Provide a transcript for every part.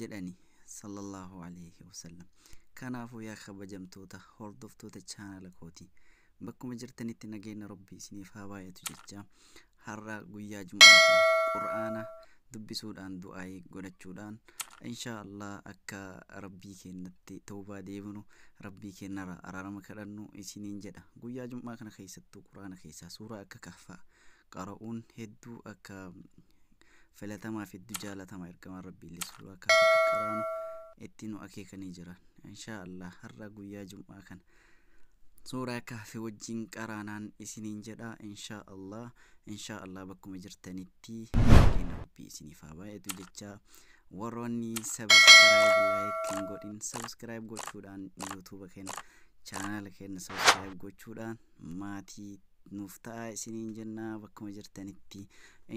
jedhani Sallallaahu Aleeyhi Wasallam. Kanaafu yaa kabajamtoota hordoftoota channel kooti bakkuma jirtanitti nageenna Rabbii isiniif haa baay'atu jechaa har'a guyyaa jum'aa kana qur'aana dubbisuudhaan du'aa'ii godhachuudhaan inshaa Allah akka Rabbii keennatti tawbaa deebinu Rabbii keennara araarama kadhannu isiniin jedha. Guyyaa jum'aa kana keessattuu qur'aana keessaa suuraa akka kahfaa qara'uun heddu akka filatamaa fi heddu jaalatama ergamaan rabbiillee sallu akka akka qaraanu itti nu akeekanii jiran inshaa allah har'a guyyaa jum'aa kana suuraa kahfi wajjin qaraanaan isiniin jedha inshaa allah inshaa allah bakkuma jirtanitti baay'een rabbii isiniif haa baay'atu jecha warroonni sabiskiraayib laayik hin godhin sabiskiraayib gochuudhaan yuutuuba keenya chaanaala keenya sabiskiraayib gochuudhaan maatii nuuf ta'aa isiniin jenna bakkuma jirtanitti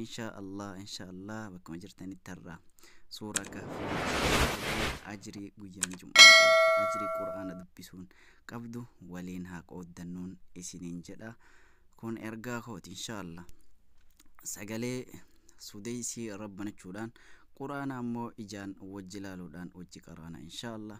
inshaa allah inshaa allah bakkuma jirtanitti har'a suuraa kahfii ajrii guyyaan jum'aa qabu ajrii qur'aana dubbisuun qabdu waliin haa qooddannuun isiniin jedha kun ergaa kooti inshaa allah sagalee sudeysii rabbanachuudhaan qur'aana ammoo ijaan wajji laaluudhaan wajji qaraana inshaa allah